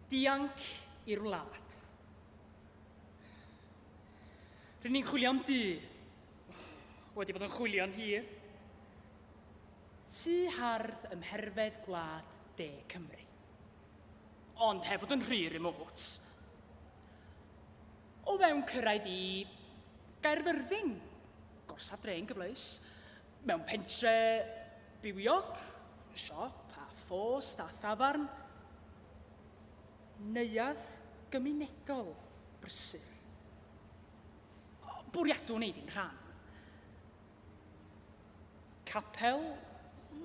Dianc i'r wlad. Rydyn ni'n chwilio am du. Wedi bod yn chwilio'n hir. Tu hardd ym mherfedd gwlad de Cymru. Ond heb fod yn rhy remote. O fewn cyrraedd i Gaerfyrddin, gorsaf dre yn gyfleus. Mewn pentre bywiog, siop a phost a thafarn, neuadd gymunedol brysur. Bwriadwn wneud yn rhan. Capel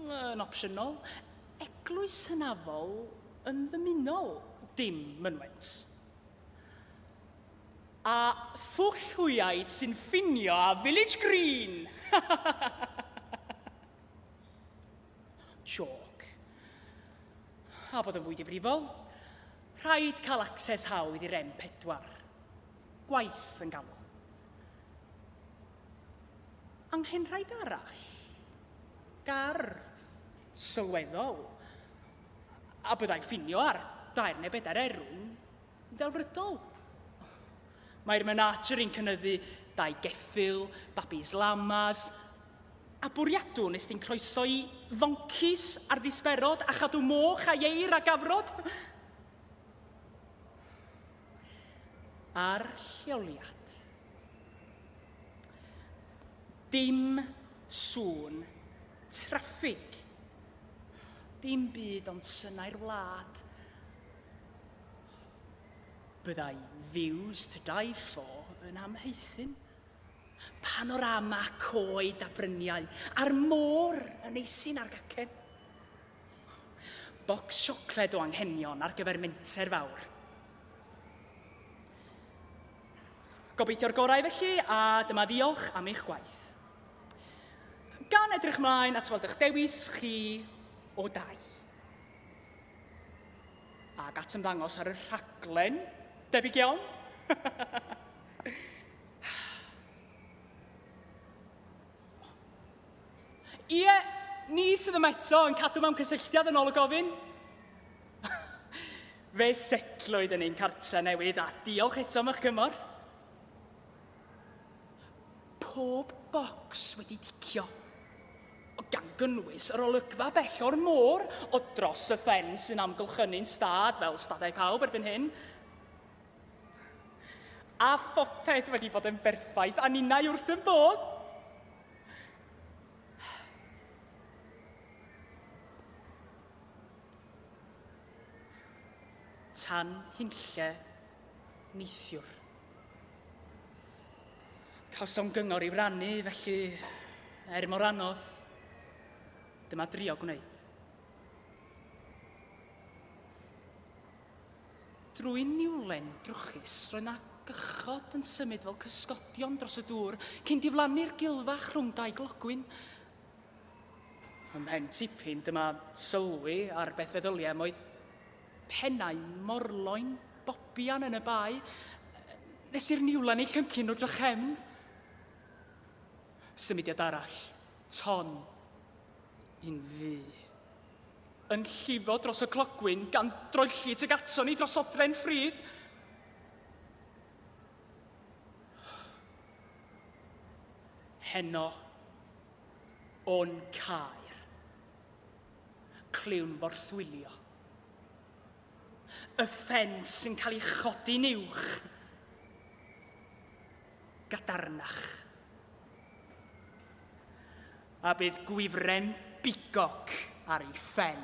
yn opsiynol, eglwys hynafol yn ddymunol, dim mynwent. A phwll hwyaid sy'n ffinio â Village Green! Joc. A bod yn fwy difrifol, rhaid cael access hawdd i'r M4. Gwaith yn galw. Anghenrhaid arall. Gardd. Sylweddol. A byddai ffinio ar dair neu bedair erw yn delfrydol. Mae'r menager yn cynyddu dau geffyl, babis lamas, a bwriadwn nes di'n croeso i foncis ar ddisberod a chadw moch a ieir a gafrod. Ar lleoliad. Dim sŵn traffig. Dim byd ond synau'r wlad Byddai Views to Die For yn amhaethu'n panorama coed a bryniau a'r môr yn eisin ar gacen. Bocs siocled o anghenion ar gyfer menter fawr. Gobeithio'r gorau felly, a dyma ddiolch am eich gwaith. Gan edrych mlaen at weld eich dewis chi o dai. Ac at ymddangos ar y rhaglen, debyg iawn. Ie, ni sydd yma eto yn cadw mewn cysylltiad yn ôl y gofyn. Fe setlwyd yn ein cartre newydd a diolch eto am eich cymorth. Pob bocs wedi ticio. Gan gynnwys yr olygfa bell o'r môr o dros y ffen sy'n amgylchynu'n stad fel stadau pawb erbyn hyn. A phopeth wedi bod yn berffaith a ninnau wrth yn bodd. tan hunlle neithiwr. Cawsom gyngor i'w rannu, felly, er mor anodd, dyma drio gwneud. Drwy niwlen drwchus, roedd na gychod yn symud fel cysgodion dros y dŵr, cyn diflannu'r gilfach rhwng dau glogwyn. Ym mhen tipyn, dyma sylwi ar beth feddyliau am oedd Pennau morloyn bobian yn y bae, nes i'r niwlen ei llyncu nhw drachefn. Symudiad arall, ton, un ddu. Yn llifo dros y clogwyn, gan droelli tuag ato ni dros odren ffridd. Heno, o'n caer. Clywn morthwylio. Y ffens sy'n cael ei chodi'n uwch. Gadarnach. A bydd gwifren bigog ar ei phen.